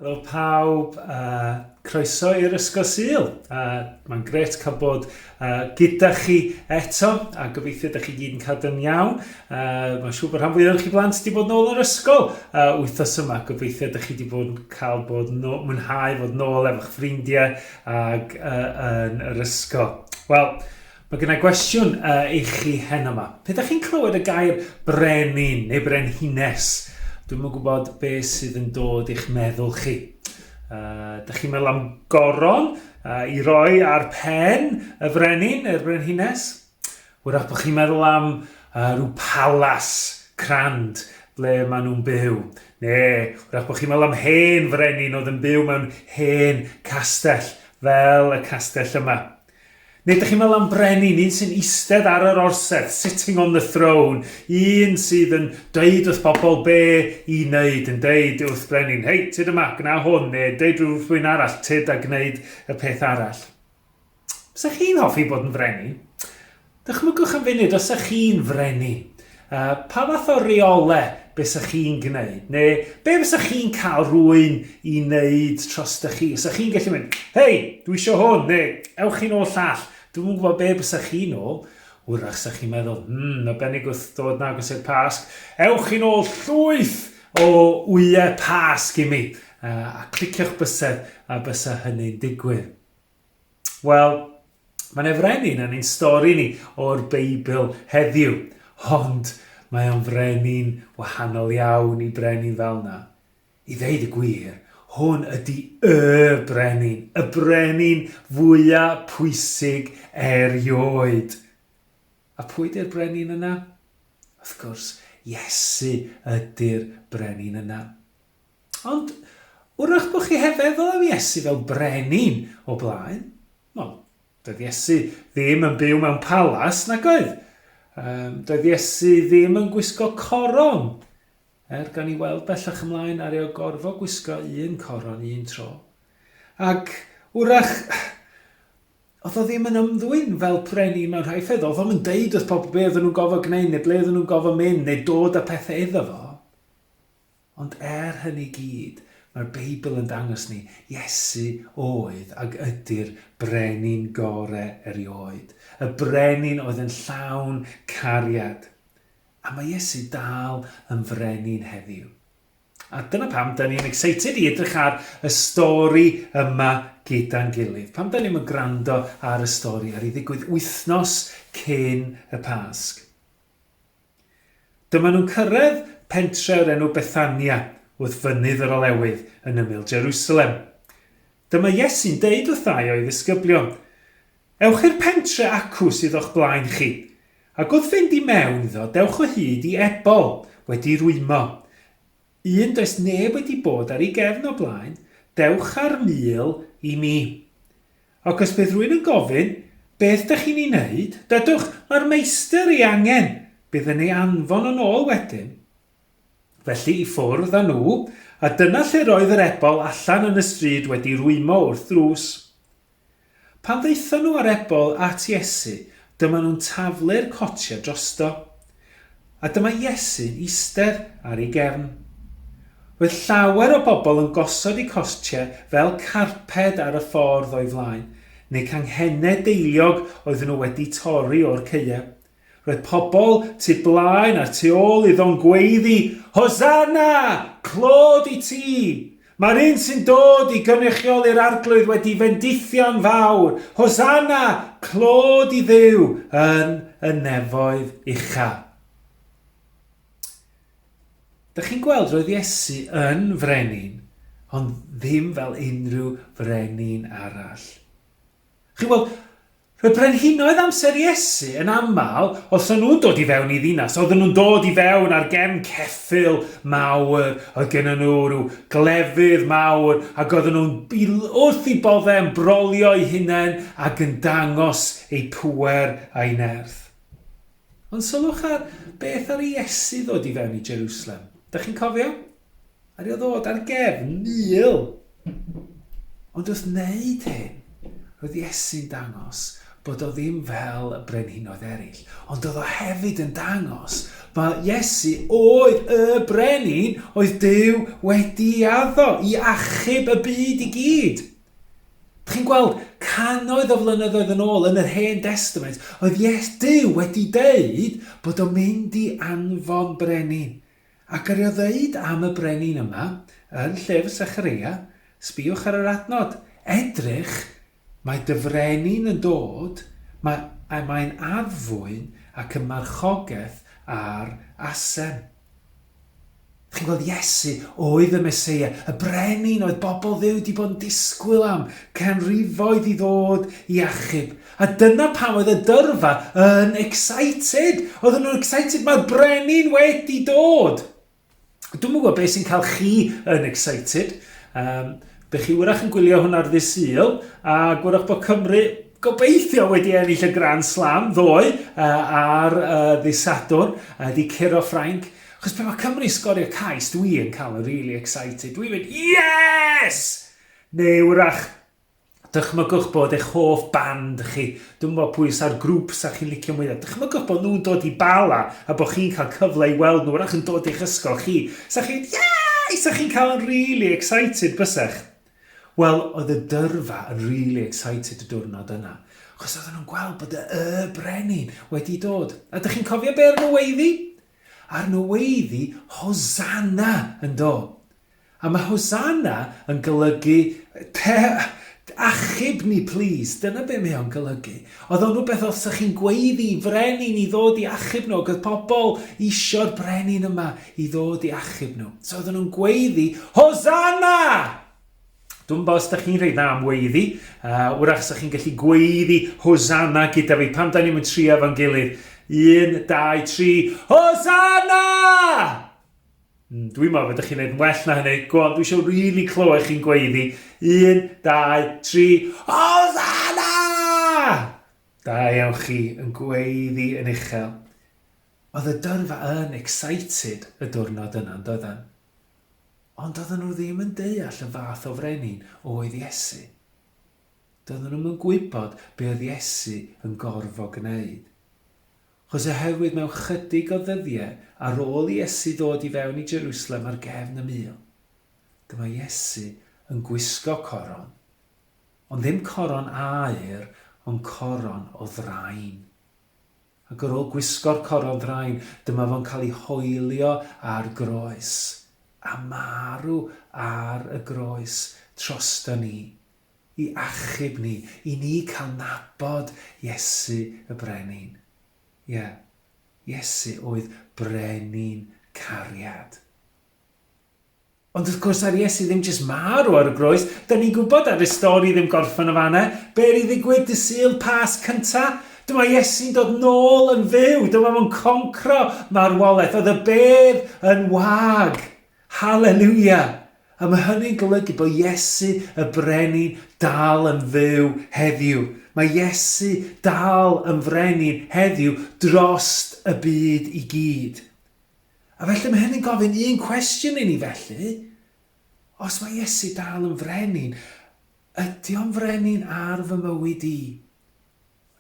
Helo pawb, uh, croeso i'r Ysgol Sul. Uh, Mae'n gret cael bod uh, gyda chi eto, a gobeithio ydych chi gyd yn cadw'n iawn. Uh, Mae'n siŵr bod rhan fwyaf chi blant wedi bod nôl o'r ysgol uh, wythnos yma. Gobeithio ydych chi wedi bod yn cael bod no, mwynhau fod nôl efo'ch ffrindiau ag uh, yn yr ysgol. Wel, Mae gen i gwestiwn uh, i chi heno yma. Pe da chi'n clywed y gair brenin neu brenhines, dwi'n yn gwybod be sydd yn dod i'ch meddwl chi. Uh, da chi'n meddwl am goron uh, i roi ar pen y frenin neu'r brenhines? Wrach bod chi'n meddwl am uh, rhyw palas crand ble maen nhw'n byw. Neu, wrach bod chi'n meddwl am hen frenin oedd yn byw mewn hen castell fel y castell yma. Neu dych chi'n meddwl am brenin, un sy'n eistedd ar yr orsedd, sitting on the throne, un sydd yn dweud wrth bobl be i wneud, yn dweud wrth brenin, hei, tyd yma, gwna hwn, neu dweud wrth rhywun arall, tyd a gwneud y peth arall. Bysa chi'n hoffi bod yn frenin? Dychmygwch yn funud os ych chi'n frenin. Pa fath o reolau bysach chi'n gwneud? Neu be fysach chi'n cael rhywun i wneud trosta chi? Os ych chi'n gallu mynd, hei, dwi eisiau hwn, neu ewch chi'n ôl llall. Dwi'm yn gwybod be bysach chi'n ôl. Wrach sa'ch chi'n meddwl, hmm, y benig wrth ddod yn agos i'r Pasg, ewch chi'n ôl llwyth o wyau Pasg i mi, a clicio'ch bysedd a bysa hynny'n digwydd. Wel, mae'n efrenin yn ein stori ni o'r Beibl heddiw, ond mae o'n frenin wahanol iawn i brenin fel na. I ddeud y gwir, hwn ydy y brenin, y brenin fwya pwysig erioed. A pwy ydy'r brenin yna? Wrth gwrs, Iesu ydy'r brenin yna. Ond, wrach bod chi heb feddwl am Iesu fel brenin o blaen? Wel, doedd Iesu ddim yn byw mewn palas, nag oedd? Um, doedd Iesu ddim yn gwisgo coron, er gan i weld bellach ymlaen ar ei gorfo gwisgo un coron un tro. Ac wrach, oedd o ddim yn ymddwyn fel brenin mewn rhai ffedd, oedd o'n deud wrth pobl be oedden nhw'n gofod gwneud neu ble oedden nhw'n gofod mynd neu dod â pethau iddo fo. Ond er hynny i gyd, mae'r Beibl yn dangos ni, Iesu oedd ac ydy'r Brenin gore erioed, y Brenin oedd yn llawn cariad. A mae Iesu dal yn Frenin heddiw. A dyna pam da ni'n excited i edrych ar y stori yma gyda'n gilydd. Pam da ni'n mynd gwrando ar y stori ar ei ddigwydd wythnos cyn y Pasg? Dyma nhw'n cyrraedd pentre o'r enw Bethania wrth fynydd yr Olewydd yn ymyl Jerusalem. Dyma Iesu'n deud wrthai o'i ddisgyblion, Ewch i'r pentre acw sydd o'ch blaen chi, ac wrth fynd i mewn iddo dewch o hyd i ebol wedi rwymo, un does neb wedi bod ar ei gefn o blaen, dewch a'r mil i mi. Ac os bydd rhywun yn gofyn, Beth dych chi'n ei wneud? Dywch, Mae'r Meistr ei angen! Bydd yn ei anfon yn ôl wedyn. Felly i ffwrdd â nhw, a dyna lle roedd yr ebol allan yn y stryd wedi rwymo wrth ddrws. Pan ddaethon nhw â'r ebol at Iesu, dyma nhw'n taflu'r cotiau drosto. A dyma Iesu eistedd ar ei gefn. Roedd llawer o bobl yn gosod eu costiau fel carped ar y ffordd o'i flaen, neu canghennau deiliog oedden nhw wedi torri o'r caeau. Roedd pobl tu blaen a'r tu ôl iddo'n gweiddi, Hosanna! Clod i ti! Mae'r un sy'n dod i gynrychioli'r Arglwydd wedi fendithio'n fawr! Hosanna! Clod i Dduw yn y nefoedd uchel. Dych chi'n gweld, roedd Iesu yn frenin, ond ddim fel unrhyw frenin arall. Chi'n gweld, y brenhinoedd amser Iesu yn aml, os o'n nhw'n dod i fewn i ddinas, oedden nhw'n dod i fewn ar gefn ceffyl mawr, oedd gennym nhw rhyw glefydd mawr, ac oedden nhw'n wrth i bodde yn brolio eu hunain ac yn dangos eu pŵer a'i nerth. Ond sylwch ar beth ar Iesu ddod i fewn i Jerusalem. Da chi'n cofio? A ni o ddod ar gefn mil. Ond wrth wneud hyn, roedd Iesu'n dangos bod o ddim fel y brenhinoedd eraill, ond oedd o hefyd yn dangos bod Iesu oedd y brenin oedd Dyw wedi addo i achub y byd i gyd. Chi'n gweld, canoedd o flynyddoedd yn ôl yn yr Hen Destament, oedd Ies Dyw wedi deud bod o'n mynd i anfon brenin Ac yr o ddeud am y brenin yma, yn llyfr Sechareia, sbïwch ar yr adnod, Edrych, mae dy frenin yn dod, mae, a mae'n addfwyn ac yn marchogeth ar asem. Chi'n gweld, Iesu oedd y Meseia, y brenin oedd bobl Dduw wedi bod yn disgwyl am, canrifoedd i ddod i achub. A dyna pam oedd y dyrfa yn excited. Oedden nhw'n excited, mae'r brenin wedi dod! Dwi'n gwybod beth sy'n cael chi yn excited. Um, Bych chi wyrach yn gwylio hwn ar ddys syl, a gwyrach bod Cymru gobeithio wedi ennill y Grand Slam ddoe uh, ar uh, ddys Sadwrn, uh, di curo Ffrainc. Chos pe mae Cymru sgorio cais, dwi yn cael yn really excited. Dwi'n mynd, yes! Neu wrach, Dychmygwch bod eich hoff band chi, dwi'm yn gwybod pwy sa'r grŵp sa chi'n licio mwya, dychmygwch bod nhw'n dod i Bala a bod chi'n cael cyfle i weld nhw, wrach yn dod i'ch ysgol chi, sa chi'n mynd yay! Sa chi'n cael yn rili excited bysech? Wel, oedd y dyrfa yn rili excited y diwrnod yna, achos oedden nhw'n gweld bod y Y Brenin wedi dod. A dych chi'n cofio be' ar nw weiddi? Ar nw weiddi Hosanna! yndo? A mae Hosanna yn golygu, Achub ni plîs! Dyna be mae o'n golygu. Oedd o'n rhywbeth os o'ch chi'n gweiddi i frenin i ddod i achub nhw, ac oedd pobl isio'r brenin yma i ddod i achub nhw. So oedden nhw'n gweiddi, Hosanna! Dwi'n bo os da chi'n rhoi dda am weiddi, uh, wrach sa chi'n gallu gweiddi Hosanna gyda fi pan da ni'n mynd trio efo'n gilydd. Un, dau, tri, Hosanna! Mm, dwi'n meddwl fydych chi'n gwneud well na hynny. Go on, dwi eisiau rili really clywed chi'n gweiddi. Un, dau, tri, Hosanna! Da iawn chi yn gweiddi yn uchel. Oedd y dyrfa yn excited y diwrnod yna, yn doedden? Ond oedden nhw ddim yn deall y fath o frenin oedd Iesu. Doedden nhw'n yn gwybod be oedd Iesu yn gorfod gwneud. Chos oherwydd mewn chydig o ddyddiau ar ôl i Iesu ddod i fewn i Jerusalem ar gefn y mil, dyma Iesu yn gwisgo coron, ond ddim coron aur, ond coron o ddrain. Ac ar ôl gwisgo'r coron ddrain, dyma fo'n cael ei hoelio ar groes, a marw ar y groes trosta ni, i achub ni, i ni cael nabod Iesu y Brenin. Ie, Iesu oedd Brenin cariad. Ond wrth gwrs, ar Iesu ddim jyst marw ar y groes, da ni'n gwybod ar y stori ddim gorffen o fanna. Be i ddigwydd dy syl pas cynta? Dyma Iesu'n dod nôl yn fyw, dyma fo'n concro marwolaeth, oedd y bedd yn wag. Haleluia! A mae hynny'n golygu bod Iesu y Brenin dal yn fyw heddiw. Mae Iesu dal yn Frenin heddiw drost y byd i gyd. A felly mae hynny'n gofyn un cwestiwn i ni felly, os mae Iesu dal yn Frenin, ydy o'n Frenin ar fy mywyd i?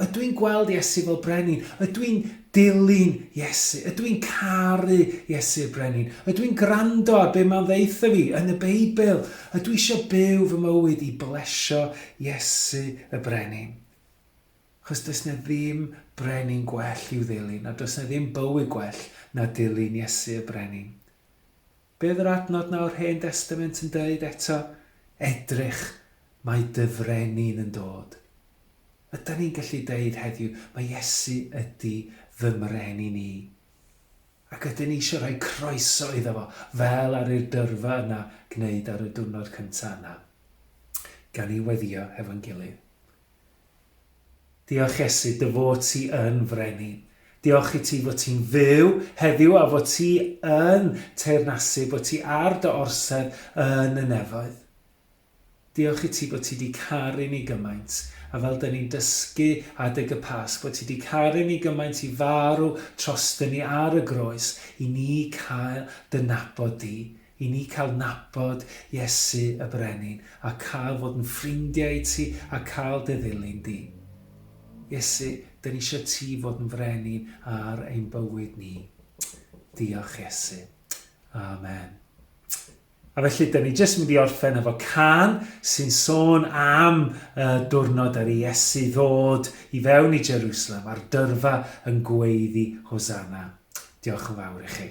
Ydw i'n gweld Iesu fel Brenin? Ydw i'n dilyn Iesu? Ydw i'n caru Iesu'r Brenin? Ydw i'n gwrando ar be mae'n ddeitha fi yn y Beibl? Ydw i eisiau byw fy mywyd i blesio Iesu y Brenin? Chos does na ddim brenin gwell i'w ddilyn, a does na ddim bywyd gwell na dilyn Iesu y Brenin. Be oedd yr adnod 'na o'r Hen Destament yn deud eto? Edrych, mae dy frenin yn dod. Ydan ni'n gallu deud heddiw, mae Iesu ydi fy mren i ni. Ac ydyn ni eisiau rhoi croeso iddo fo, fel ar i'r dyrfa yna gwneud ar y diwrnod cynta yna, gan i weddio hefo'n gilydd. Diolch Iesu dy fod ti yn Frenin. Diolch i ti fod ti'n fyw heddiw a fod ti yn teyrnasu, bod ti ar dy orsedd yn y nefoedd. Diolch i ti bod ti di caru ni gymaint, a fel dyn ni'n dysgu adeg y Pasg, bod ti di caru ni gymaint i farw trostyn ni ar y groes i ni cael dy nabod di. I ni cael nabod Iesu y Brenin a cael fod yn ffrindiau i ti a cael dy ddilyn di. Iesu, dyn ni eisiau ti fod yn Frenin ar ein bywyd ni. Diolch Iesu. Amen. A felly, dyn ni jyst mynd i orffen efo can sy'n sôn am y diwrnod ar Iesu ddod i fewn i Jerusalem a'r dyrfa yn gweiddi Hosanna. Diolch yn fawr i chi.